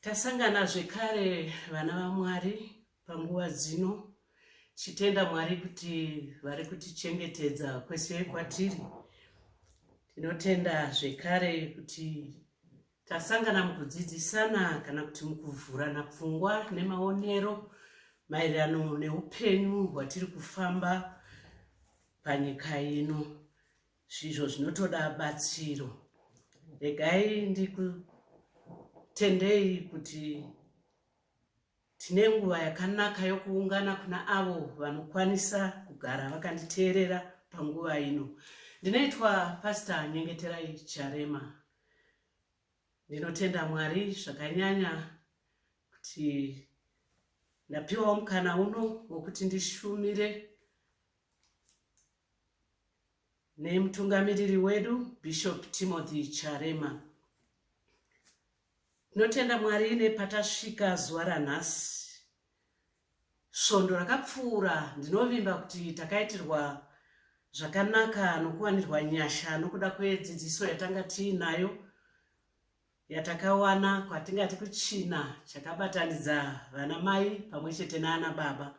Tasangana zvekare vana vaMwari panguva dzino chitenda Mwari kuti vari kutichengetedza kwese kwatiri. Tinotenda zvekare kuti tasangana mukudzidzisana kana kuti mukuvhurana pfungwa nemaonero maererano neupenyu hwatiri kufamba panyika ino. Zvizvo zvinotoda batsiro. Regai ndikutendei kuti tine nguva yakanaka yokuungana kuna avo vanokwanisa kugara vakanditeerera panguva ino. Ndinoitwa Pasta Nyengeterai Charema. Ndinotenda Mwari zvakanyanya kuti ndapiwawo mukana uno wokuti ndishumire nemutungamiriri wedu bishop timothy charema tinotenda mwari nepatasvika zuva ranhasi svondo rakapfuura ndinovimba kuti takaitirwa zvakanaka nokuwanirwa nyasha nokuda kwedzidziso yatanga tiinayo yatakawana kwatingati kuchina chakabatanidza vana mai pamwe chete naana baba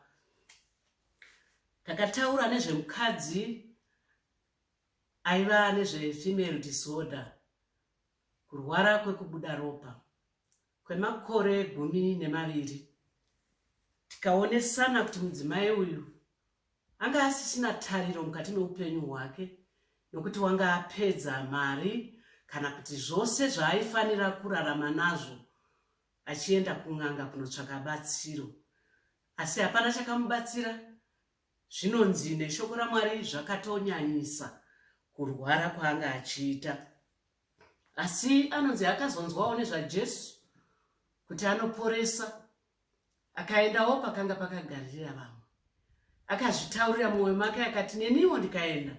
takataura nezvemukadzi aiva nezvefemale disorder kurwara kwekubuda ropa kwemakore gumi nemaviri tikaonesana kuti mudzimai uyu Anga asisina tariro mukati meupenyu hwake nokuti wanga apedza mari kana kuti zvose zvaaifanira kurarama nazvo achienda kun'anga kunotsvaka batsiro. Asi hapana chakamubatsira. Zvinonzi neshoko raMwari zvakatonyanyisa kurwara kwaanga achiita. Asi anonzi akazonzwawo nezvaJesu kuti anoporesa akaendawo pakanga pakagarira vamwe akazvitaurira mumwoyo make akati neniwo ndikaenda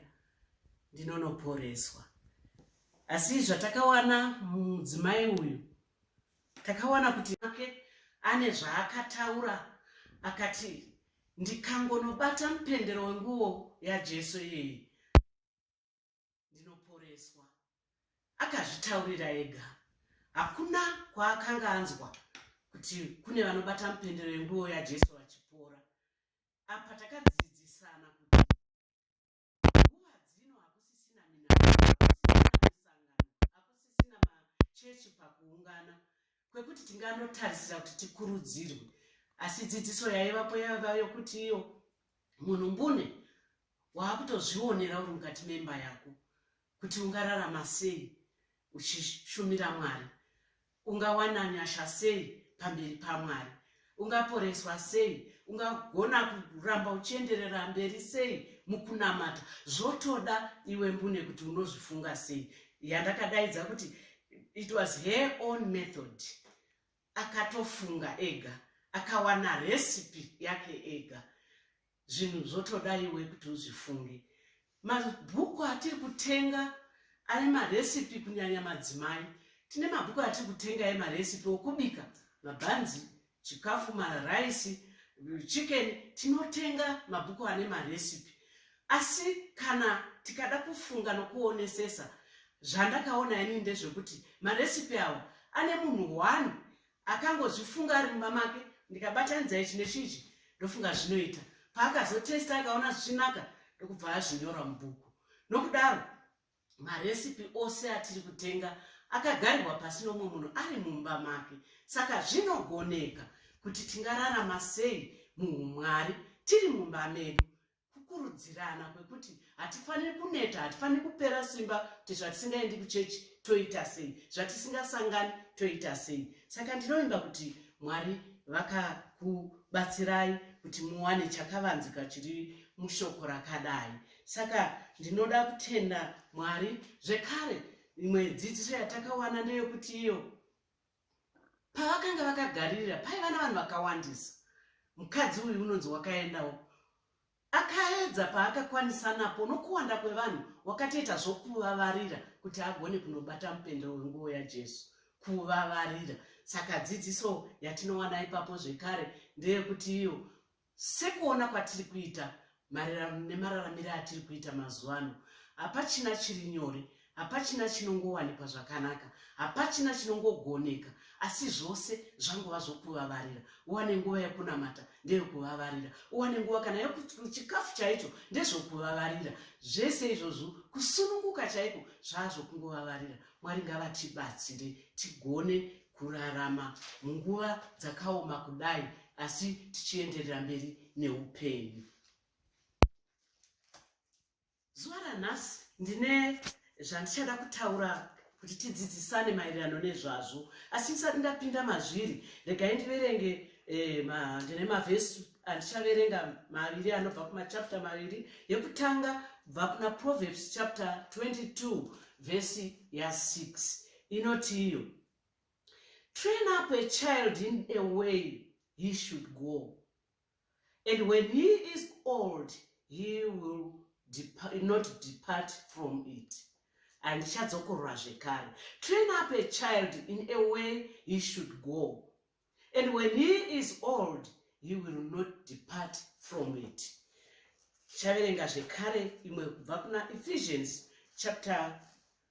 ndinonoporeswa asi zvatakawana mudzimai uyu takawana kuti make ane zvaakataura akati ndikangonobata mupendero wenguwo yajesu iyeyi ndinoporeswa, akazvitaurira ega. Hakuna kwaakanga anzwa kuti kune vanobata mupendero yenguo yaJesu vachipora. Apa takadzidzisana kuti nguva dzino hakusisina minaa, hakusisina misangano, hakusisina machechi pakuungana. kwekuti tinganotarisira kuti tikurudzirwe asi dzidziso yaivapo yaiva yokuti iyo munhu mbune waakutozvionera uri mukati memba yako kuti ungararama sei uchishumira mwari ungawana nyasha sei pamberi pamwari ungaporeswa sei ungagona kuramba uchienderera mberi sei mukunamata zvotoda iwe mbune kuti unozvifunga sei yandakadaidza kuti it was her own method akatofunga ega akawana recipe yake ega zvinhu zvotoda iwe kuti uzvifunge mabhuku atiri kutenga ane marecipe kunyanya madzimai tine mabhuku atiri kutenga emarecipe okubika mabhanzi chikafu maraisi chicken tinotenga mabhuku ane marecipe asi kana tikada kufunga nokuonesesa zvandakaona ini ndezvekuti marecipe awa ane munhu one akangozvifunga ari mumba make ndikabatanidza ichi nechiji ndofunga zvinoita paakazotesta akaona zvichinaka ndokubva azvinyora mubhuku nokudaro maresipi ose atiri kutenga akagarirwa pasi nomwe munhu ari mumba make saka zvinogoneka kuti tingararama sei muumwari tiri mumba medu kukurudzirana kwekuti hatifaniri kuneta hatifaniri kupera simba kuti zvatisingaendi kuchechi toita sei zvatisingasangani toita sei saka ndinovimba kuti mwari vakakubatsirai kuti muwane chakavanzika chiri mushoko rakadai saka ndinoda kutenda mwari zvekare imwe dzidziso yatakawana ndeyekuti iyo pavakanga vakagaririra paiva navanhu vakawandisa mukadzi uyu unonzi wakaendawo akaedza paakakwanisa napo nokuwanda kwevanhu wakatoita zvokuvavarira kuti agone kunobata mupendero wenguvo yajesu kuvavarira saka dzidziso yatinowana ipapo zvekare ndeyekuti iyo Sekuona kwatiri kuita nemararamire atiri kuita mazuva ano, hapachina chiri nyore, hapachina chinongowanikwa zvakanaka, hapachina chinongogoneka, asi zvose zvangova zvokuvavarira. Uwane nguva yekunamata ndeyokuvavarira, uwane nguva kana yekuchikafu chaicho ndezvokuvavarira. Zvese izvozvo kusununguka chaiko zvaazvokungovavarira. Mwari ngavatibatsire tigone kurarama munguva dzakaoma kudai asi tichienderera mberi neupenyu zuva ranhasi ndine zvandichada kutaura kuti tidzidzisane maererano nezvazvo asi ndisati ndapinda mazviri regai ndiverenge eh, ndine mavhesi andichaverenga maviri anobva kumachapta maviri yekutanga bva kuna proverbs chapter 22 vhesi ya6 inoti iyo train up a child in a way he should go and when he is old he will depart, not depart from it handichadzokorora zvekare train up a child in a way he should go and when he is old he will not depart from it tichaverenga zvekare imwe kubva kuna ephesians chapter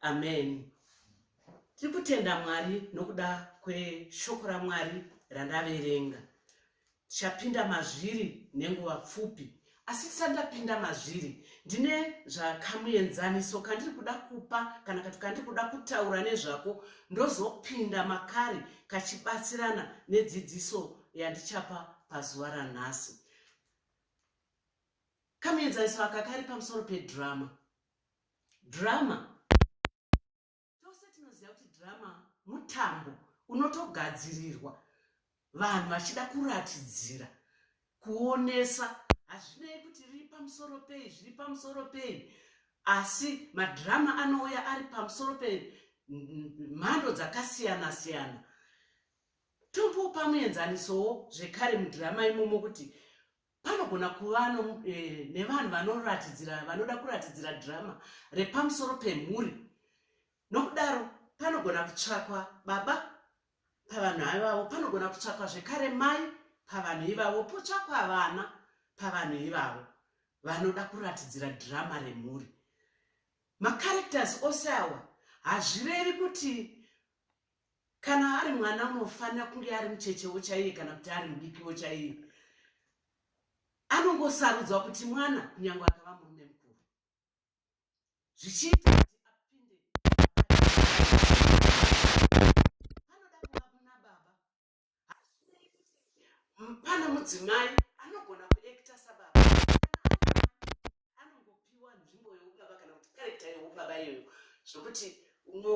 Amen. Tiri kutenda Mwari nokuda kweshoko raMwari randaverenga. Tichapinda mazviri nenguva pfupi asi tisati tapinda mazviri ndine zvakamuenzaniso kandiri kuda kupa kana kati kandiri kuda kutaura nezvako ndozopinda makari kachibatsirana nedzidziso yandichapa pazuva ranhasi kamuenzaniso aka kari pamusoro pedrama drama tose tinoziva kuti drama mutambo unotogadzirirwa vanhu vachida kuratidzira kuonesa hazvinei kuti riri pamusoro pei zviri pamusoro pei asi madhirama anouya ari pamusoro pemhando dzakasiyana siyana tombopa muenzanisowo zvekare mudhirama imomo kuti panogona kuva eh, nevanhu vanoratidzira vanoda kuratidzira drama repamusoro pemhuri nokudaro panogona kutsvakwa baba pavanhu ivavo panogona kutsvakwa zvekare mai pavanhu ivavo potsvakwa vana pavanhu ivavo vanoda kuratidzira drama remhuri macaracters ose awa hazvirevi kuti kana ari mwana unofanira kunge ari muchechewo chaiye kana kuti ari mudikiwo chaiye anongosarudzwa kuti mwana kunyange akava murume mukuru zvichiita kuti apinde anoda kuva kuna baba Pane mudzimai anogona kuekita sababa anongopiwa nzvimbo yeubaba kana kuti karekta yeubaba iyoyo zvekuti uno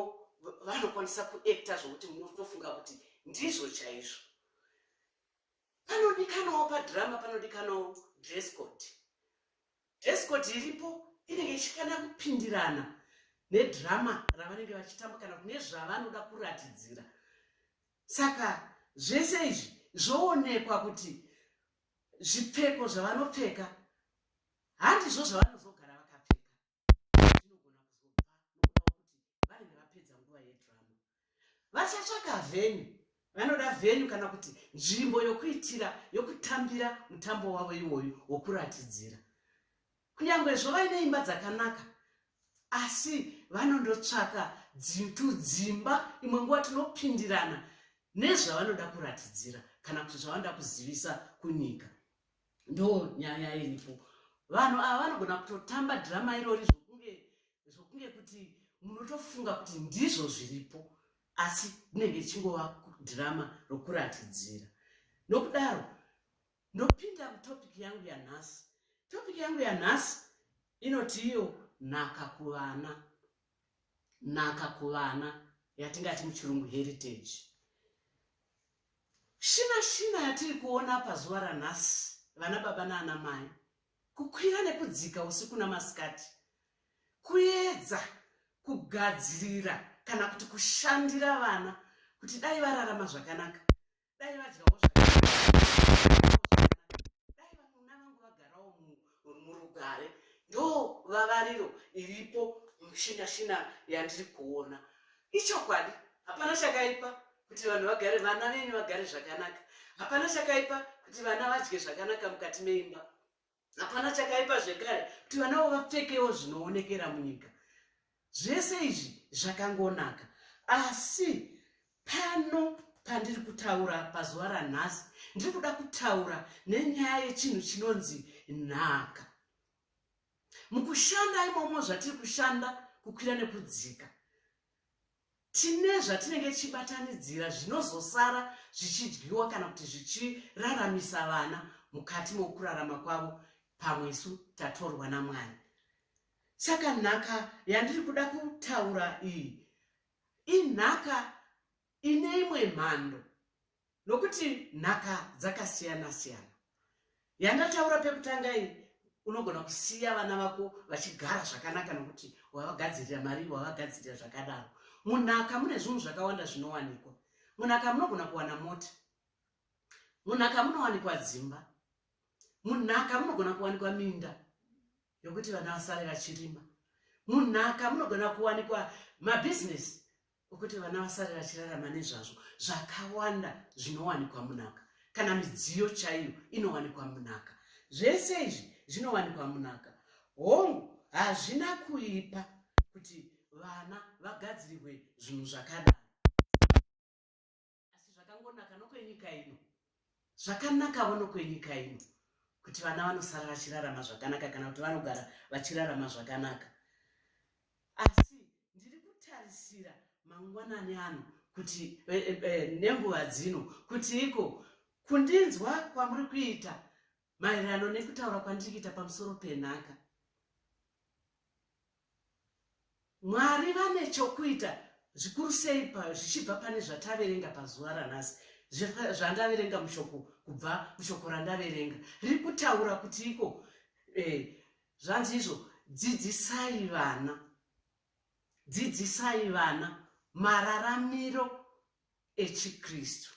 vanokwanisa kuekita zvekuti munotofunga kuti ndizvo chaizvo panodikanawo padhirama panodikanawo dress code dress code iripo inenge ichifanira kupindirana nedhirama ravanenge vachitamba kana kune zvavanoda kuratidzira saka zvese izvi zvoonekwa kuti zvipfeko zvavanopfeka handizvo zvavanozogara vakapfeka zvinogona kuzobva nokuda wokuti vanenge vapedza nguva yedhirama vachatsvaka vheni vanoda vheni kana kuti nzvimbo yokuitira yokutambira mutambo wavo iwoyu wokuratidzira Kunyangwe zvo vaine imba dzakanaka asi vanondotsvaka tudzimba imwe nguva tinopindirana nezvavanoda kuratidzira kana kuti zvavanoda kuzivisa kunyika ndo nyaya iripo vanhu ava vanogona kutotamba drama irori zvokunge zvokunge kuti munotofunga kuti ndizvo zviripo asi rinenge richingova drama rokuratidzira nokudaro Ndopinda kutopic yangu yanhasi. Topic yangu yanhasi inoti iyo nhaka kuvana. Nhaka kuvana yatingati muchirungu heritage. Shina shina yatiri kuona pazuva ranhasi vana baba naana mai kukwira nekudzika usiku namasikati kuedza kugadzirira kana kuti kushandira vana kuti dai vararama zvakanaka dai vadyawo dai vanuna vangu vagarawo murugare ndo vavariro iripo mushinashina yandiri kuona ichokwadi hapana chakaipa kuti vanhu vagare vana venyu vagare zvakanaka hapana chakaipa kuti vana vadye zvakanaka mukati meimba hapana chakaipa zvekare kuti vanavo vapfekewo zvinoonekera munyika zvese izvi zvakangonaka asi pano pandiri kutaura pazuva ranhasi ndiri kuda kutaura nenyaya yechinhu chinonzi nhaka mukushanda imomo zvatiri kushanda kukwira nekudzika tine zvatinenge tichibatanidzira zvinozosara zvichidyiwa kana kuti zvichiraramisa vana mukati mokurarama kwavo pamwe isu tatorwa namwari saka nhaka yandiri kuda kutaura iyi inhaka ine imwe mhando nokuti nhaka dzakasiyana siyana yandataura pekutanga iyi unogona kusiya vana vako vachigara zvakanaka nokuti wavagadzirira mari wavagadzirira zvakadaro munhaka mune zvinhu zvakawanda zvinowanikwa munhaka munogona kuwana mota munhaka munowanikwa dzimba munhaka munogona kuwanikwa minda yokuti vana vasare vachirima munhaka munogona kuwanikwa mabhizinesi wekuti vana vasare vachirarama nezvazvo zvakawanda zvinowanikwa munhaka kana midziyo chaiyo inowanikwa munhaka zvese izvi zvinowanikwa munhaka hongu hazvina kuipa kuti vana vagadzirirwe zvinhu zvakadai asi zvakangonaka nokwenyika ino zvakanakawo nokwenyika ino kuti vana vanosara vachirarama zvakanaka kana kuti vanogara vachirarama zvakanaka asi ndiri kutarisira mangwanani ano kuti e, e, nenguva dzino kuti iko kundinzwa kwamuri kuita maererano nekutaura kwandiri kuita pamusoro penhaka mwari vane chokuita zvikuru sei zvichibva pane zvataverenga pazuva ranhasi zvandaverenga mushoko kubva mushoko randaverenga riri kutaura kuti iko eh, zvanzi izvo dzidzisai vana dzidzisai vana mararamiro echiKristu.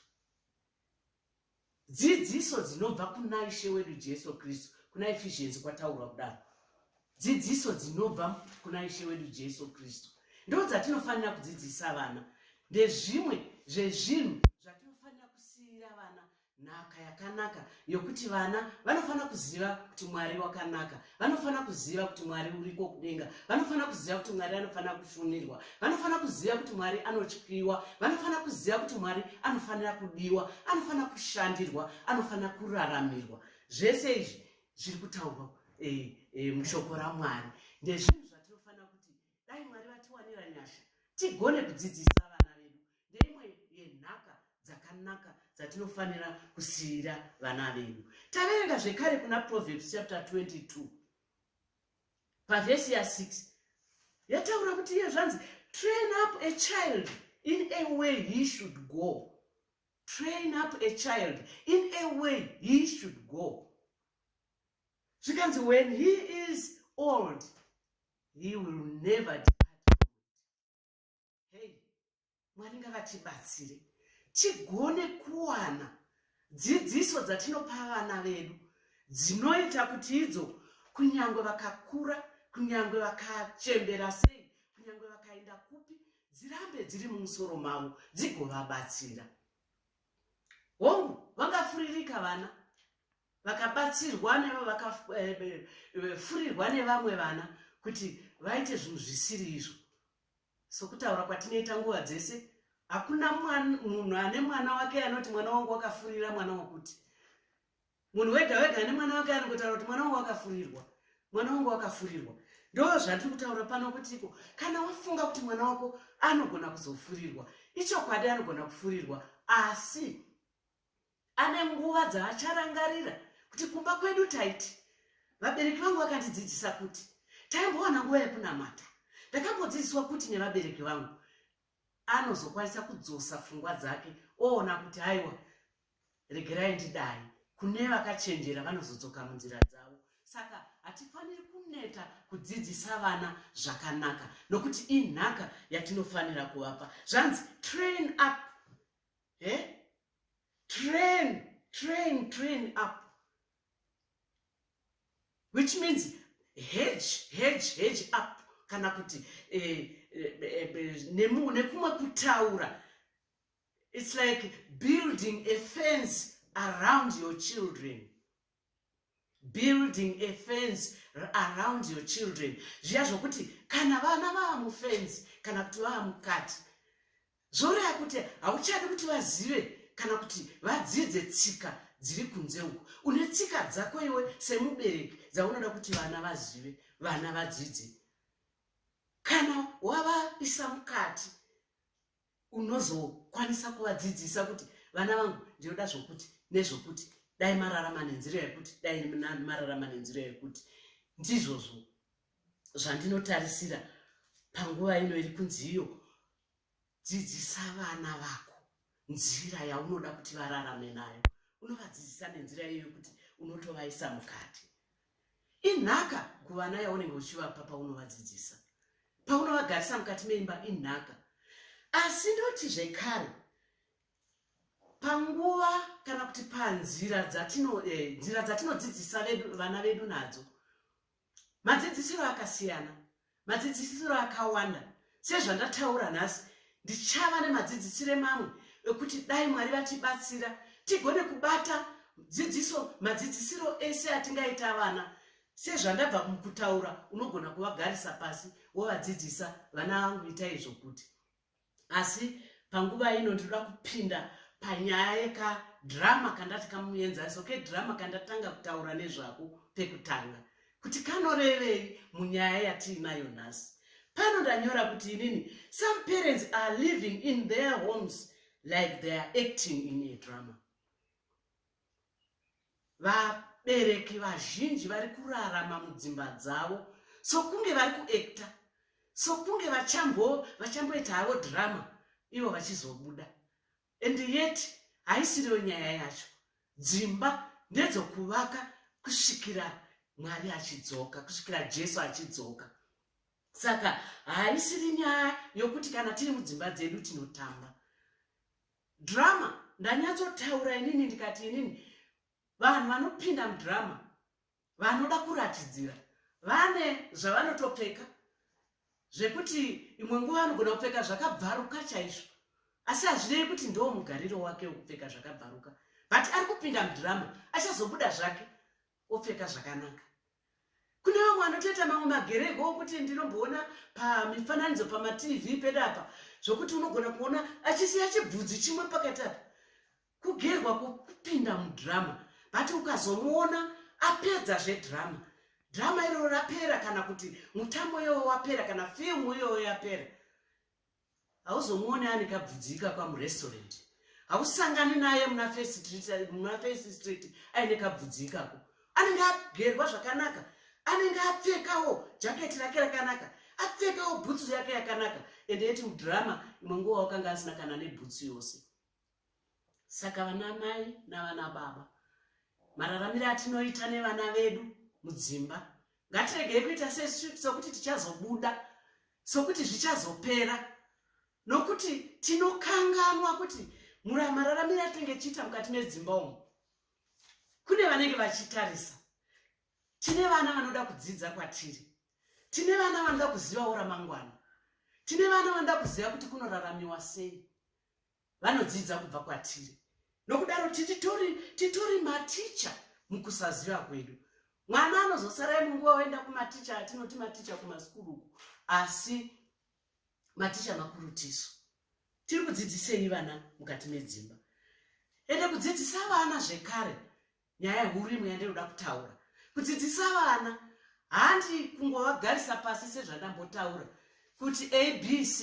Dzidziso dzinobva kuna Ishe wedu Jesu Kristu, kuna Ephesians kwataurwa kudaro. Dzidziso dzinobva kuna Ishe wedu Jesu Kristu ndo dzatinofanira kudzidzisa vana ndezvimwe zvezvinhu zvatinofanira kusiyira vana nhaka yakanaka yokuti vana vanofanira kuziva kuti mwari wakanaka vanofanira kuziva kuti mwari uriko kudenga vanofanira kuziva kuti mwari anofanira kushunirwa vanofanira kuziva kuti mwari anotyiwa vanofanira kuziva kuti mwari anofanira kudiwa anofanira kushandirwa anofanira kuraramirwa zvese izvi zviri kutaurwa e, e, mushoko ramwari ndezvinhu zvatinofanira kuti dai mwari vatiwanira nyasha tigone kudzidzisa vana vedu ndeimwe yenhaka dzakanaka dzatinofanira kusiyira vana vedu taverenga zvekare kuna proverbs chapter 22 pavhesi ya6 yataura kuti iye zvanzi train up a child in a way he should go train up a child in a way he should go zvikanzi when he is old he will never hey mwari ngavatibatsire tigone kuwana dzidziso dzatinopa vana vedu dzinoita kuti idzo kunyange vakakura kunyange vakachembera sei kunyange vakaenda kupi dzirambe dziri mumusoro mavo dzigovabatsira hongu vangafuririka vana vakabatsirwa nevavakafurirwa eh, eh, nevamwe vana kuti vaite zvinhu zvisiri izvo sokutaura kwatinoita nguva dzese hakuna munhu ane mwana wake anoti mwana wangu wakafurira mwana wakuti munhu wega wega ane mwana wake anongotaura kuti mwana wangu wakafurirwa mwana wangu wakafurirwa ndo zvatiri kutaura pano kutiko kana wafunga kuti mwana wako anogona kuzofurirwa ichokwadi anogona kufurirwa asi ane nguva dzaacharangarira kuti kumba kwedu taiti vabereki vangu vakandidzidzisa kuti taimbowana nguva yekunamata ndakambodzidziswa kuti nevabereki vangu anozokwanisa kudzosa pfungwa dzake oona kuti haiwa regerai ndidai kune vakachenjera vanozodzoka munzira dzavo saka hatifaniri kuneta kudzidzisa vana zvakanaka nokuti inhaka yatinofanira kuvapa zvanzi train up he eh? train train train up which means hedge hedge hedge up kana kuti eh, eh, eh, eh nekumwe kutaura it's like building a fence around your children building a fence around your children zviya zvokuti kana vana vava mufence kana kuti vava mukati zvoreva kuti hauchadi kuti vazive kana kuti vadzidze tsika dziri kunze uku une tsika dzako iwe semubereki dzaunoda kuti vana vazive vana vadzidze kana wavaisa mukati unozokwanisa kuvadzidzisa kuti vana vangu ndinoda zvokuti nezvokuti dai mararama nenzira yekuti dai mararama nenzira yekuti ndizvozvo zvandinotarisira panguva ino iri kunzi iyo dzidzisa vana vako nzira yaunoda kuti vararame nayo unovadzidzisa nenzira iyo yekuti unotovaisa mukati inhaka kuvana yaunenge uchivapa paunovadzidzisa paunovagarisa mukati meimba inhaka asi ndoti zvekare panguva kana kuti panzira eh, nzira dzatinodzidzisa vana vedu nadzo madzidzisiro akasiyana madzidzisiro akawanda sezvandataura nhasi ndichava nemadzidzisiro emamwe ekuti dai mwari vatibatsira tigone kubata dzidziso madzidzisiro ese atingaita vana sezvandabva kutaura unogona kuvagarisa pasi wovadzidzisa vana vangu ita izvo kuti asi panguva ino ndinoda kupinda panyaya yekadrama kandati kamuenzaniso kedrama kandatanga kutaura nezvako pekutanga kuti kanorevei munyaya yatiinayo nhasi pano ndanyora kuti inini some parents are living in their homes like they are acting in a drama vabereki vazhinji vari kurarama mudzimba dzavo sokunge vari kuekta sokunge vachambo vachamboita havo drama ivo vachizobuda and yet haisiriyo nyaya yacho dzimba ndedzokuvaka kusvikira mwari achidzoka kusvikira jesu achidzoka saka haisiri nyaya yokuti kana tiri mudzimba dzedu tinotamba drama ndanyatsotaura inini ndikati inini vanhu vanopinda mudrama vanoda kuratidzira vane zvavanotopfeka zvekuti imwe nguva vanogona kupfeka zvakabvaruka chaizvo asi hazvinei kuti ndo mugariro wake wekupfeka zvakabvaruka but ari kupinda mudrama achazobuda zvake opfeka zvakanaka kune vamwe vanotoita mamwe magereko okuti ndinomboona pamifananidzo pamatv pedu apa zvokuti unogona kuona achisiya chibvudzi chimwe pakati apa kugerwa kupinda mudhirama but ukazomuona apedza zvedhirama dhirama iroro rapera kana kuti mutambo iyoyo wapera kana firimu iyoyo yapera hauzomuone ane kabvudzi ikaka murestaurant hausangani naye muna face street aine kabvudzi ikako anenge agerwa zvakanaka anenge apfekawo jaketi rake rakanaka apfekawo bhutsu yake yakanaka ende yeti mudrama imwe nguva wakanga asina kana nebhutsu yose saka vana mai navana baba mararamiro atinoita nevana vedu mudzimba ngatiregei kuita sokuti tichazobuda sokuti zvichazopera nokuti tinokanganwa kuti mararamiro atinenge tichiita mukati medzimba umu kune vanenge vachitarisa tine vana vanoda kudzidza kwatiri tine vana vanoda kuzivawo ramangwana tine vana vanoda kuziva kuti kunoraramiwa sei vanodzidza kubva kwatiri nokudaro titori titori maticha mukusaziva kwedu mwana anozosara imwe nguva oenda kumaticha atinoti maticha kumasukuru uku asi maticha makuru tisu tiri kudzidzisei vana mukati medzimba ende kudzidzisa vana zvekare nyaya huru imwe yandinoda kutaura kudzidzisa vana handi kungovagarisa pasi sezvandambotaura kuti abc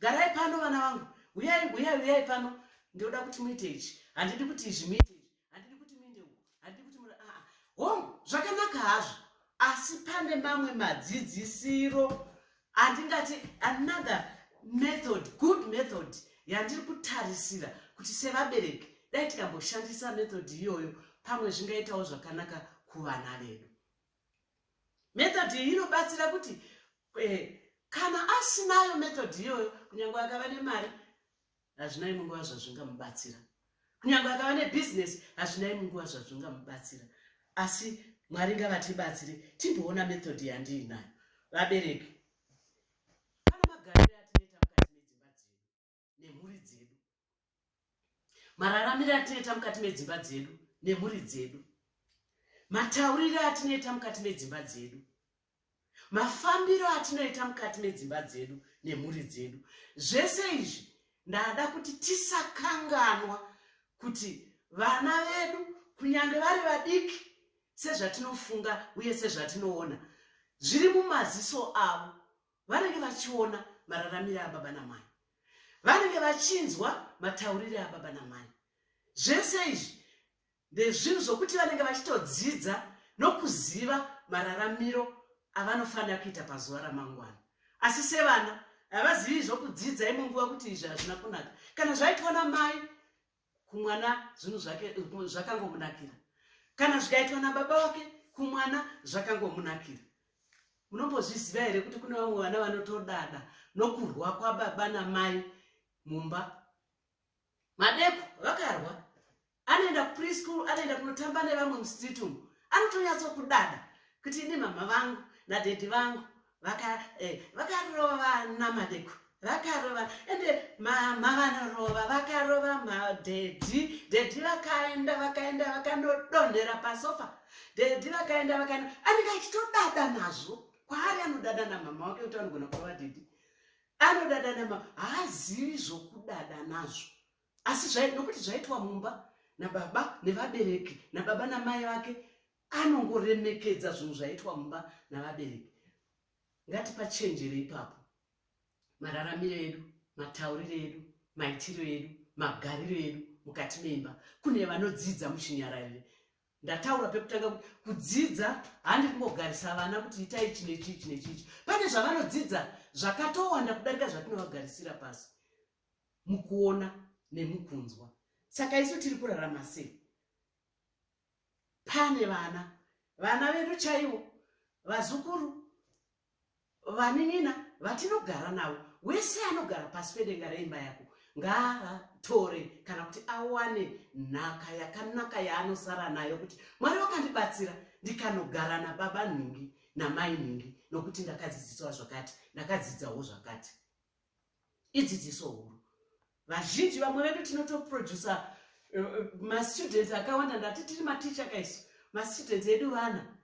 garai pano vana vangu huyai huyai huyai pano ndinoda kuti muite izvi handidi kuti izvi muite izvi handidi kuti muinde uku handidi kuti mura aa hom zvakanaka hazvo asi pane mamwe madzidzisiro handingati another method good method yandiri kutarisira kuti sevabereki dai tikamboshandisa method iyoyo pamwe zvingaitawo zvakanaka kuvana vedu method iyi inobatsira kuti eh, kana asinayo method iyoyo kunyange akava nemari hazvina imwe nguva zvazvingamubatsira kunyange akava nebhizinesi hazvina imwe nguva zvazvingamubatsira asi mwari ngavatibatsire timboona method yandiinayo vabereki pane magariro atineta mukati medzimba dzedu nemhuri dzedu mararamiro atineta mukati medzimba dzedu nemhuri dzedu matauriro atineta mukati medzimba dzedu mafambiro atinoita mukati medzimba dzedu nemhuri dzedu zvese izvi ndada kuti tisakanganwa kuti vana vedu kunyange vari vadiki sezvatinofunga uye sezvatinoona zviri mumaziso avo vanenge vachiona mararamire ababa namai vanenge vachinzwa mataurire ababa namai zvese izvi ndezvinhu zvokuti vanenge vachitodzidza nokuziva mararamiro avanofanira kuita pazuva ramangwana asi sevana havazivi zvokudzidza imwe nguva kuti izvi hazvina kunaka kana zvaitwa namai kumwana zvinhu zvake zvakangomunakira kana zvikaitwa nababa wake kumwana zvakangomunakira munombozviziva here kuti kune vamwe vana vanotodada nokurwa kwababa namai mumba madeko vakarwa anoenda kupreschool anoenda kunotamba nevamwe mustreet umu anotonyatso kudada kuti ini mama vangu nadhedhi vangu eh, vakarova eh, vana madeko vakarova ende mama vanorova vakarova madhedhi dhedhi vakaenda vakaenda vakanodonhera pasofa dhedhi vakaenda vakaenda anenge achitodada nazvo kwaari anodada namama wake kuti anogona kurova dhedhi anodada namama haazivi zvokudada nazvo asi nokuti zvaitwa mumba nababa nevabereki nababa namai vake anongoremekedza zvinhu zvaitwa mumba navabereki ngatipachenjere ipapo mararamiro edu matauriro edu maitiro edu magariro edu mukati meimba kune vanodzidza muchinyararire ndataura pekutanga kuti kudzidza handi kungogarisa vana kuti itai ichi nechii ichi nechii ichi pane zvavanodzidza zvakatowanda kudarika zvatinovagarisira pasi mukuona nemukunzwa saka isu tiri kurarama sei pane vana vana vedu chaivo vazukuru vanin'ina vatinogara navo wese anogara pasi pedenga reimba yako ngaatore kana kuti awane nhaka yakanaka yaanosara nayo kuti mwari wakandibatsira ndikanogara nababa nhingi namai nhingi nokuti ndakadzidziswa zvakati ndakadzidzawo zvakati idzidziso huru vazhinji vamwe vedu tinotoproducer eh, eh, mastudent akawanda ndati tiri maticha kaisu mastudent edu vana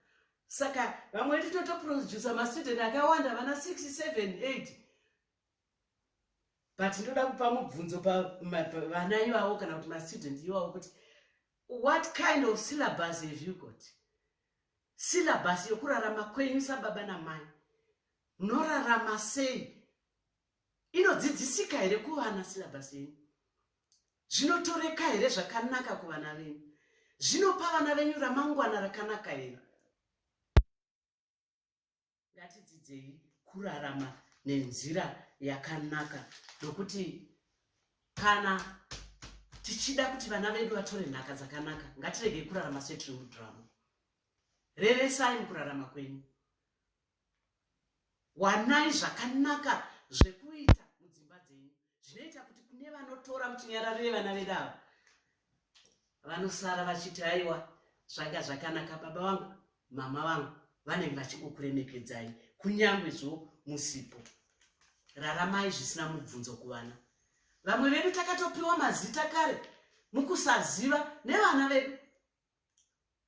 saka vamwe vedu tinotoproducer mastudent akawanda vana 678 but ndoda kupa mubvunzo pavana ivavo kana kuti mastudent ivavo kuti what kind of syllabus have you got syllabus yokurarama kwenyu sababa namai munorarama sei inodzidzisika here kuvana silabhasi yenyu zvinotoreka here zvakanaka kuvana venyu zvinopa vana venyu ramangwana rakanaka here ngatidzidzei kurarama nenzira yakanaka nokuti kana tichida kuti vana vedu vatore nhaka dzakanaka ngatiregei kurarama setiri mudhirama reresai mukurarama kwenyu Wanai zvakanaka zvekuita mudzimba dzenyu zvinoita kuti kune vanotora muchinyararire vana vedu ava vanosara vachiti aiwa zvanga zvakanaka baba vangu mama vangu vanenge vachingokuremekedzai kunyange zvo musipo raramai zvisina mubvunzo kuvana vamwe vedu takatopiwa mazita kare mukusaziva nevana vedu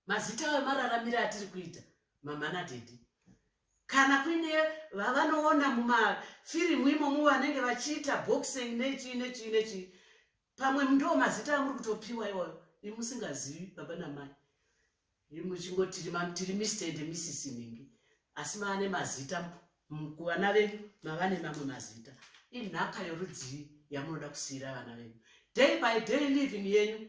mazita ayo mararamire atiri kuita mamhana dedi kana kuine vavanoona mumafirimu imomo vanenge vachiita boxing nechii nechii nechii pamwe ndo mazita amuri kutopiwa iwayo imusingazivi baba namai imuchingotiri mister and misisi mingi asi maane mazita kuvana venyu mavane mamwe mazita inhaka yorudzii yamunoda kusiyira vana venyu day by day living yenyu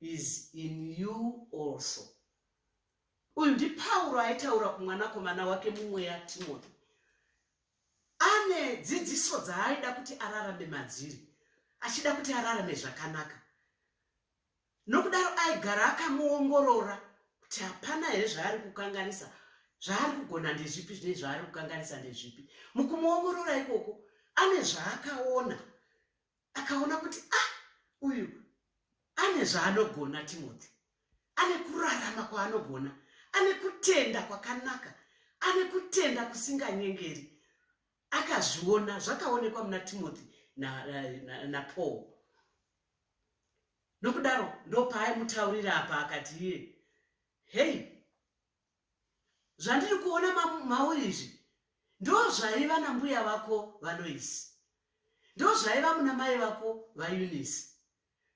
is in you also. Uyu ndiPauro aitaura kumwanakomana wake mumweya Timothy. Ane dzidziso dzaaida kuti ararame madziri, achida kuti ararame zvakanaka. Nokudaro aigara akamuongorora kuti hapana here zvaari kukanganisa, zvaari kugona ndezvipi zvine zvaari kukanganisa ndezvipi. Mukumuongorora ikoko, ane zvaakaona akaona kuti ah uyu ane zvaanogona timothy ane kurarama kwaanogona ane kutenda kwakanaka ane kutenda kusinganyengeri akazviona zvakaonekwa muna timothy napaul na, na, na nokudaro ndopaai mutaurira apa akati iye hei zvandiri kuona mauri izvi ndozvaiva nambuya vako valoisi ndozvaiva muna mai vako vaunisi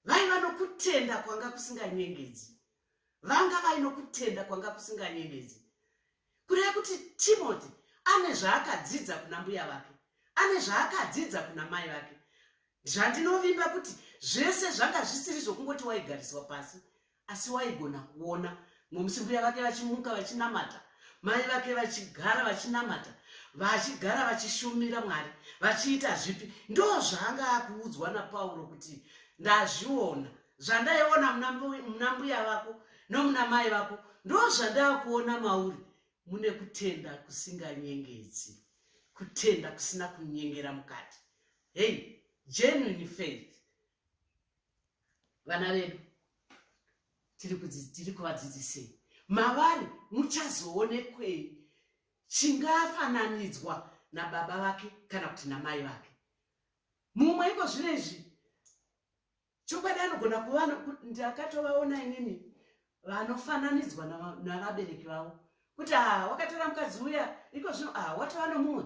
vaiva nokutenda kwanga kusinganyengedzi vanga vainokutenda kwanga kusinganyengedzi kureva kuti timothy ane zvaakadzidza kuna mbuya vake ane zvaakadzidza kuna mai vake zvandinovimba kuti zvese zvanga zvisiri zvokungoti waigariswa pasi asi waigona kuona ngomusi mbuya vake vachimuka vachinamata mai vake vachigara vachinamata vachigara vachishumira mwari vachiita zvipi ndo zvaanga akuudzwa napauro kuti ndazviona zvandaiona muna mbuya vako nomuna mai vako ndo zvandaakuona mauri mune kutenda kusinganyengedzi kutenda kusina kunyengera mukati hei genuine faith vana vedu tiri kuvadzidzisei mavari muchazoonekwei chingafananidzwa nababa vake kana kuti namai vake mumwe iko zvino izvi chokwadi anogona kuva ndakatovaona inini vanofananidzwa navabereki vavo kuti ah, wakatora mukadzi uya iko zvino ah, watova nomumwe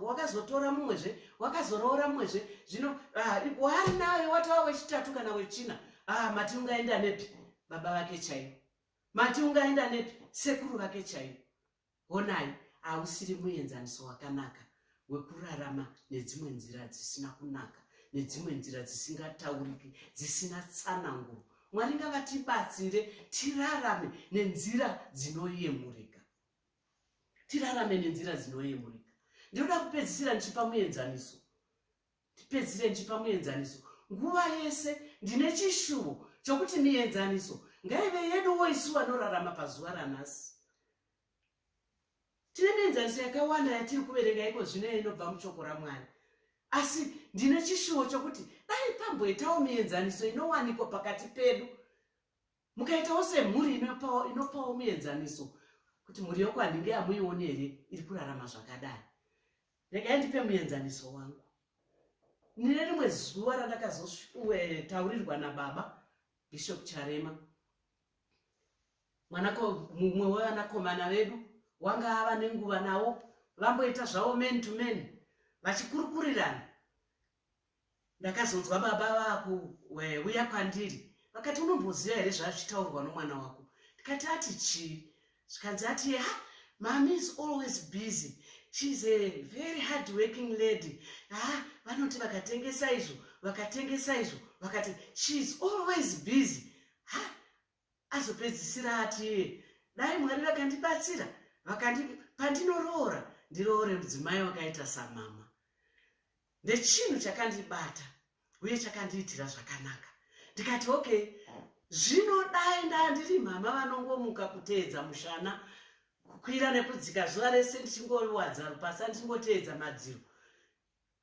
wakazotora mumwe zve wakazoroora mumwe zve zvino ah, wari nayo watova wechitatu kana wechina mati ungaenda nepi baba vake chaivo mati ungaenda nepi sekuru vake chaivo Honai, hausiri muenzaniso wakanaka wekurarama nedzimwe nzira dzisina kunaka, nedzimwe nzira dzisingatauriki, dzisina tsananguro. Mwari ngavatibatsire tirarame nenzira dzinoyemurika, tirarame nenzira dzinoyemurika. Ndinoda kupedzisira ndichipa muenzaniso, ndipedzisire ndichipa muenzaniso. Nguva yese ndine chishuvo chokuti mienzaniso ngaive yeduwo isu vanorarama pazuva ranhasi tine mienzaniso yakawanda yatiri kuverenga iko zvino inobva muchoko ramwari asi ndine chishuwo chokuti dai pamboitawo mienzaniso inowanikwa pakati pedu mukaitawo semhuri inopawo mienzaniso kuti mhuri yokwanhinge amuioni here iri kurarama zvakadai regai ndipe muenzaniso wangu nine rimwe zuva randakazotaurirwa nababa bishop charema mumwe wevanakomana vedu wanga ava nenguva nawo vamboita zvavo man to man vachikurukurirana ndakazonzwa baba vakuuya kwandiri vakati unomboziva here zvazvitaurwa nomwana wako ndikati ati chii zvikanzi ati ha mami is always busy sheis a very hard working lady ha vanoti vakatengesa izvo vakatengesa izvo vakati sheis always busy ha azopedzisira ati iye dai mwari vakandibatsira vakandi pandinoroora ndiroore mudzimai wakaita samama ndechinhu chakandibata uye chakandiitira zvakanaka ndikati okay zvinodai ndaa ndiri mhama vanongomuka kuteedza mushana kukwira nekudzika zuva rese ndichingowadza rupasa ndichingoteedza madziro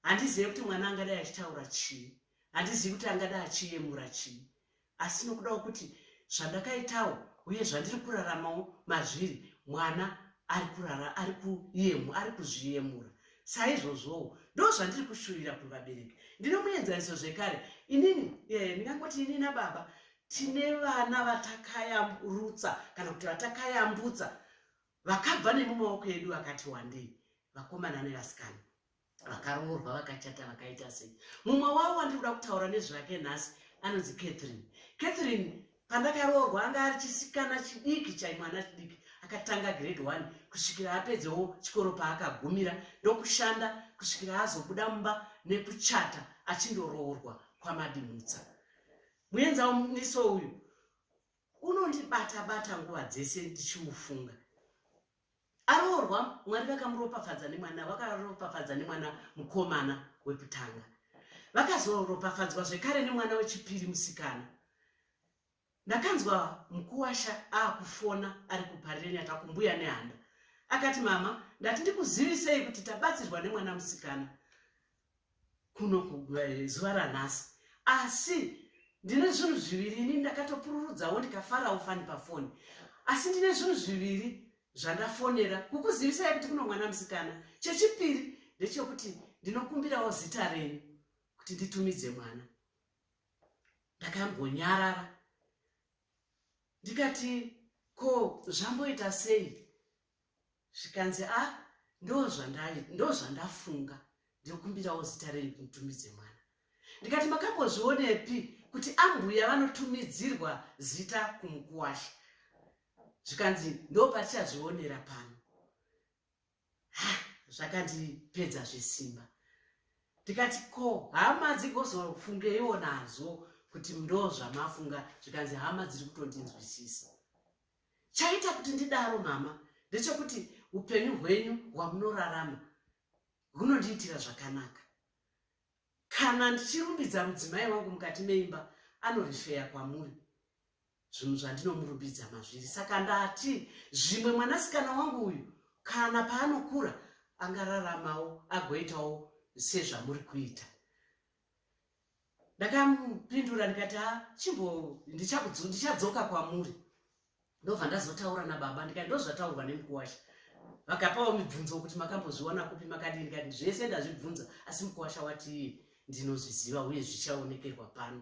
handizive kuti mwana angadai achitaura chii handizivi kuti angadai achiyemura chii Asi nokudawo kuti zvandakaitawo uye zvandiri kuraramawo mazviri, mwana ari kurara ari kuyemu, ari kuzviyemura. Saizvozvowo, ndozvandiri kushuvira kuvabereki. Ndine muenzaniso zvekare. Inini, eh, ndingangoti ini nababa tine vana vatakayamrutsa kana kuti vatakayambutsa vakabva nemumaoko edu vakati wandei, vakomana nevasikana. vakaroorwa vakachata vakaita sei mumwe wavo wandiri kuda kutaura nezvake nhasi anonzi catherine catherine pandakaroorwa anga ari chisikana chidiki chaimwana chidiki akatanga grade one kusvikira apedzewo chikoro paakagumira ndokushanda kusvikira azobuda mumba nekuchata achindoroorwa kwamadimutsa muenza muniso uyu unondibata bata nguva dzese ndichimufunga aroorwa mwari vakamuropafadza nemwana vakaropafadza nemwana mukomana wekutanga vakazoropafadzwa zvekare nemwana wechipiri musikana ndakanzwa mukuwasha aakufona ari kuparireni atakumbuya nehanda akati mama ndati ndikuzivisei kuti tabatsirwa nemwana musikana kuno eh, zuva ranhasi asi ndine zvinhu zviviri ini ndakatopururudzawo ndikafarawo fani pafoni asi ndine zvinhu zviviri zvandafonera kukuzivisai kuti kuno mwana musikana chechipiri ndechekuti ndinokumbirawo zita renyu kuti nditumidze mwana ndakambonyarara ndikati ko zvamboita sei zvikanzi a ah, ndozvandafunga ndikumbirawo zita renyu kumutumidze mwana ndikati makambozvionepi kuti ambuya vanotumidzirwa zita kumukuwasha zvikanzi ndopatichazvionera pano ah, zvakandipedza zvesimba ndikati ko hama dzigozofungeiwo nazvo kuti ndozvamafunga zvikanzi hama dziri kutondinzwisisa chaita kuti ndidaro mama ndechekuti upenyu hwenyu hwamunorarama hunondiitira zvakanaka kana ndichirumbidza mudzimai wangu mukati meimba anorifeya kwamuri zvinhu zvandinomurumbidza mazviri saka ndati zvimwe mwanasikana wangu uyu kana paanokura angararamawo agoitawo sezvamuri kuita ndakamupindura ndikati ha chimbo ndichadzoka kwamuri ndobva ndazotaura nababa ndikati ndozvataurwa nemukuwasha vakapawo mibvunzo kuti makambozviwana kupi makadii ndikati zvese ndazvibvunza asi mukuwasha wati ndinozviziva uye zvichaonekerwa pano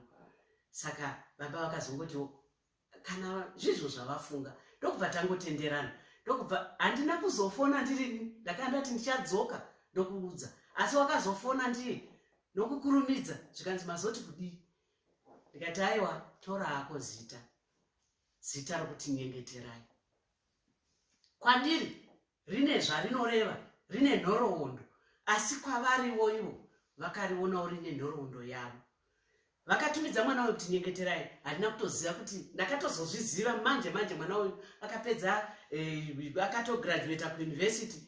saka baba vakazongotiwo kana zvizvo zvavafunga ndokubva tangotenderana ndokubva handina kuzofona ndiri ndakanga ndati ndichadzoka ndokuudza asi wakazofona ndiri nokukurumidza zvikanzi mazoti kudii ndikati aiwa tora ako zita zita rokuti nyengeterai kwandiri rine zvarinoreva rine nhoroondo asi kwavariwo ivo vakarionawo rine nhoroondo yavo vakatumidza mwana uyu kuti nyengeterai handina kutoziva kuti ndakatozozviziva manje manje mwana uyu akapedza eh, akatograduata kuuniversity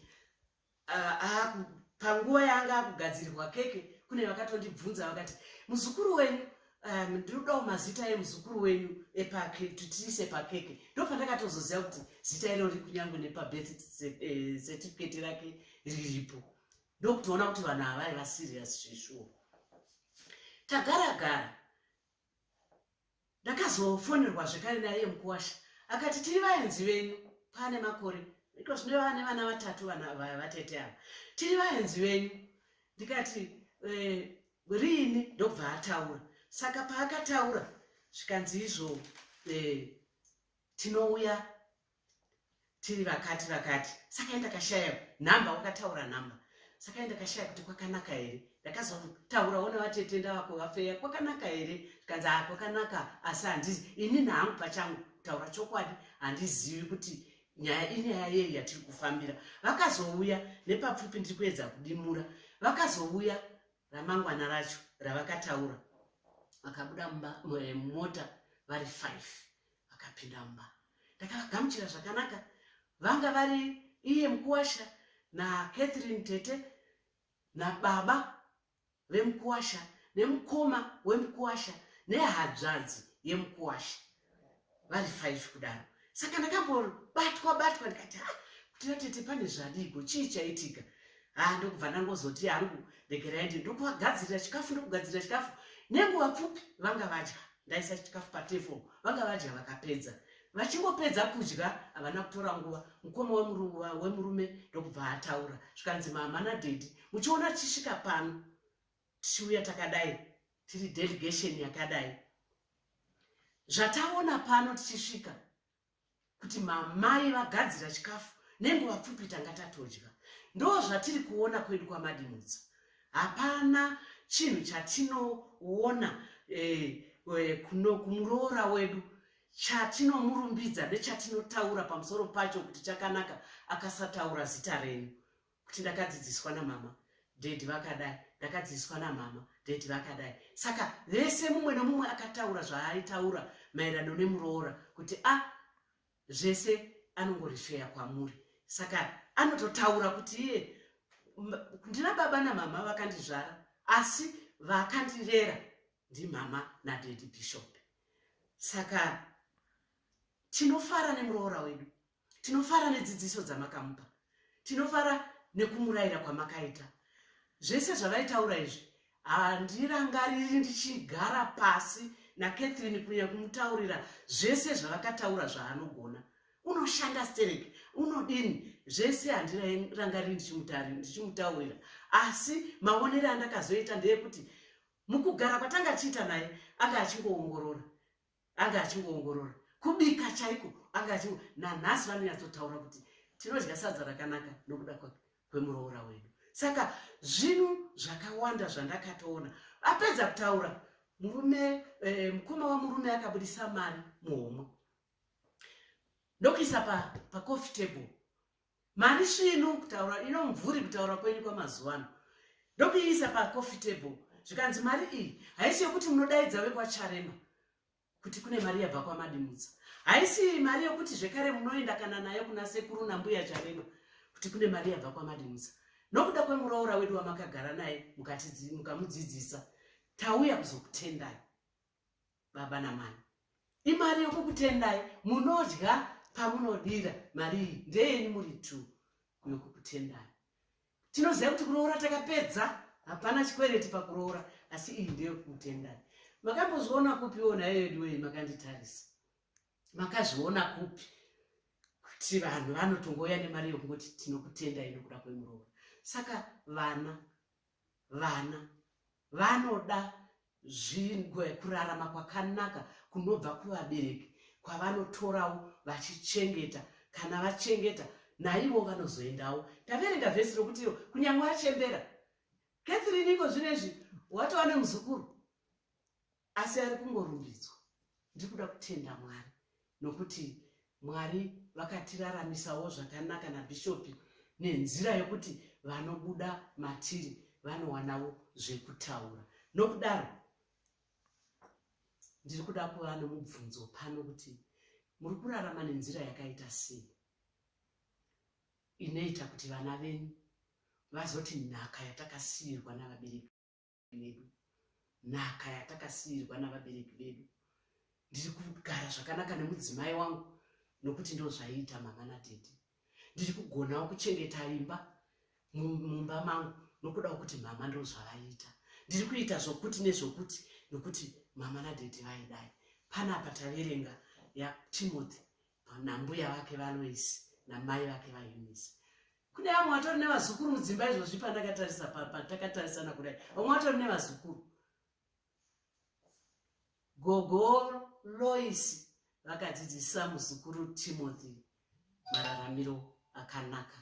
ah, ah, panguva yaanga akugadzirirwa keke kune vakatondibvunza vakati muzukuru wenyu um, ndinodawo mazita emuzukuru wenyu epake kuti tiise pakeke ndopandakatozoziva kuti zita iro riri kunyange nepabirth eh, certificate rake riripo ndokutoona kuti vanhu havai vasirius zveshuwo tagara gara ndakazofonerwa zvekare naiye mukuwasha akati tiri vaenzi venyu paane makore iko zvino vane vana vatatu vana vatete ava tiri vaenzi venyu ndikati eh, riini ndobva ataura saka paakataura zvikanzi izvo eh, tinouya tiri vakati vakati saka enda kashaya nhamba wakataura nhamba saka enda kashaya kuti kwakanaka here ndakazotaura ona vatete ndavako vafeya kwakanaka here zvikanzi a kwakanaka asi handizi ini nahangu pachangu kutaura chokwadi handizivi kuti nyaya inyaya yei yatiri kufambira vakazouya nepapfupi ndiri kuedza kudimura vakazouya ramangwana racho ravakataura vakabuda mumba eh, mota vari five vakapinda mumba ndakavagamuchira zvakanaka vanga vari iye mukuwasha na catherine tete nababa vemukuwasha nemukoma wemukuwasha nehadzvadzi yemukuwasha vari five kudaro saka ndakambobatwa batwa ndikati ha ah, kuti vatete pane zvadiiko chii chaitika ha ah, ndokubva ndangozoti yangu regerai ndi ndokuvagadzirira chikafu ndokugadzirira chikafu nenguva pfupi vanga vadya ndaisa chikafu patefo vanga vadya vakapedza vachingopedza kudya havana kutora nguva mukoma wemurume ndokubva ataura zvikanzi mama nadedi muchiona tichisvika pano tichiuya takadai tiri delegation yakadai zvataona pano tichisvika kuti mamai vagadzira chikafu nenguva pfupi tanga tatodya ndo zvatiri kuona kwedu kwamadimutsa hapana chinhu chatinoona eh, eh, kuno kumuroora wedu chatinomurumbidza nechatinotaura pamusoro pacho kuti chakanaka akasataura zita renyu kuti ndakadzidziswa namama dedi vakadai ndakadzidziswa namama dedi vakadai saka vese mumwe nomumwe akataura zvaaitaura maererano nemuroora kuti a ah, zvese anongorifeya kwamuri saka anototaura kuti iye ndina baba namama vakandizvara asi vakandirera ndimama nadedi bishop saka tinofara nemuroora wedu tinofara nedzidziso dzamakamupa tinofara nekumurayira kwamakaita zvese zvavaitaura izvi handirangariri ndichigara pasi nakatherine kunyanya kumutaurira zvese zvavakataura zvaanogona unoshanda sterek unodini zvese handirangariri ndichimutaurira asi maonere andakazoita ndeyekuti mukugara kwatanga achiita naye anga achingoongorora anga achingoongorora kubika chaiko anga achingo nanhasi vanonyatsotaura kuti tinodya sadza rakanaka nokuda kwemuroora wedu saka zvinhu zvakawanda zvandakatoona apedza kutaura murume eh, mukoma wamurume akabudisa mari muhomwe ndokuisa pacoffee pa table mari svinu kutaura ino mvuri kutaura kwenyu kwamazuva ano ndokuiisa pacoffee table zvikanzi mari iyi haisi yokuti munodaidza vekwacharema kuti kune mari yabva kwamadimutsa haisi mari yokuti zvekare munoenda kana nayo kuna sekuru nambuya charema kuti kune mari yabva kwamadimutsa nokuda kwemuroora wedu wamakagara naye mukamudzidzisa tauya kuzokutendai baba namai imari yokukutendai munodya pamunodira mari iyi ndeyenyu muri t yokukutendai tinoziva kuti kuroora takapedza hapana chikwereti pakuroora asi iyi ndeyokukutendai makambozviona kupi wo nhayo yedu wei makanditarisa makazviona kupi kuti vanhu vanotongouya nemari yokungoti tinokutendai nokuda kwemuroora saka vana vana vanoda zvingwe kurarama kwakanaka kunobva kuvabereki kwavanotorawo vachichengeta kana vachengeta naivo vanozoendawo taverenga vhesi rokuti iyo kunyange achembera catherine iko zvino izvi watova nemuzukuru asi ari kungorumbidzwa ndiri kuda kutenda mwari nokuti mwari vakatiraramisawo zvakanaka nabhishopi nenzira yokuti vanobuda matiri vanowanawo zvekutaura nokudaro ndiri kuda kuva nomubvunzo pano kuti muri kurarama nenzira yakaita sei inoita kuti vana venyu vazoti nhaka yatakasiirwa navabereki vedu nhaka yatakasiirwa navabereki vedu ndiri kugara zvakanaka nemudzimai wangu nokuti ndozvaiita mama natete ndiri kugonawo kuchengeta imba mumba mangu nokuda kwekuti mama ndozvavaiita ndiri kuita zvokuti nezvokuti nokuti mama nadhedhi vaidai panapa taverenga yatimothy nambuya vake valoisi namai vake vaunisi kune vamwe vatori nevazukuru mudzimba izvozvi pandakatarisa patakatarisana kudai vamwe vatori nevazukuru gogo loisi vakadzidzisa muzukuru timothy mararamiro akanaka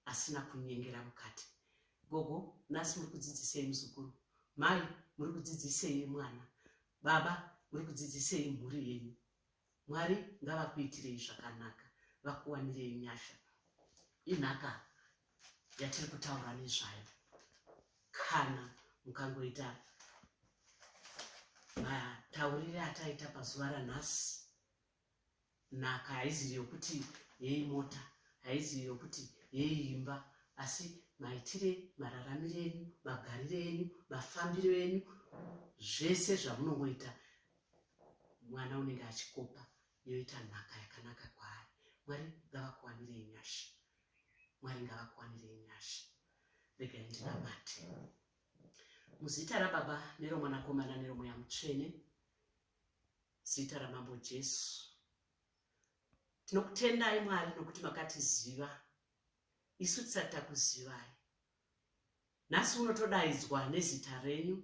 asina kunyengera mukati gogo nhasi muri kudzidzisei muzukuru mai muri kudzidzisei mwana baba muri kudzidzisei mhuri yenyu Mwari ngavakuitirei zvakanaka, vakuwanirei nyasha. Inhaka yatiri kutaura nezvayo kana mukangoita mataurire ataita pazuva ranhasi nhaka haizivi yokuti yei mota haizivi yokuti yei imba asi maitire mararamiro enyu magariro enyu mafambiro enyu zvese zvamunongoita mwana unenge achikopa yoita nhaka yakanaka kwaari mwari ngavakuwanire nyasha mwari ngavakuwanire nyasha rega ndinabate muzita rababa neromwanakomana neromweya mutsvene zita ramambo jesu tinokutendai mwari nokuti makatiziva isu tisati takuzivai nhasi unotodaidzwa nezita renyu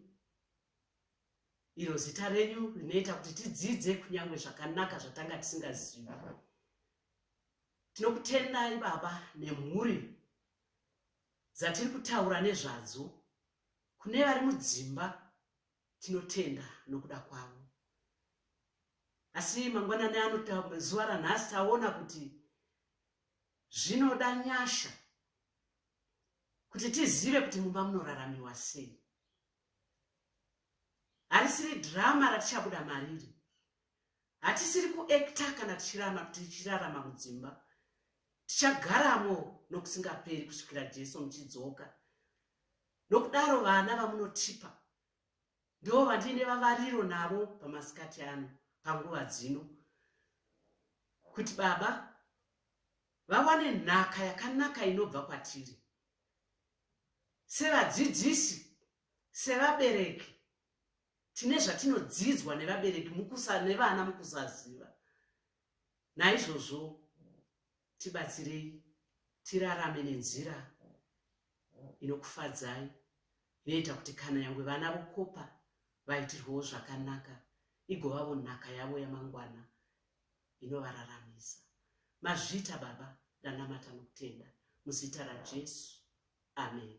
iro zita renyu rinoita kuti tidzidze kunyange zvakanaka zvatanga tisingazivi tinokutendai baba nemhuri dzatiri kutaura nezvadzo kune vari mudzimba tinotenda nokuda kwavo asi mangwanani anotazuva ranhasi taona kuti zvinoda nyasha kuti tizive kuti mumba munoraramiwa sei harisiri drama ratichabuda mariri hatisiri kuekta kana tichirama tichirarama mudzimba tichagaramo nokusingaperi kusvikira jesu muchidzoka nokudaro vana vamunotipa ndivo vandiine vavariro navo pamasikati ano panguva dzino kuti baba vawane nhaka yakanaka inobva kwatiri sevadzidzisi sevabereki tine zvatinodzidzwa nevabereki mukusa nevana mukusaziva naizvozvo tibatsirei tirarame nenzira inokufadzai inoita kuti kana yangwe vana vokopa vaitirwawo zvakanaka igovavo nhaka yavo yamangwana inovararamisa. Mazviita Baba, ndanamata nokutenda muzita raJesu. Ameni.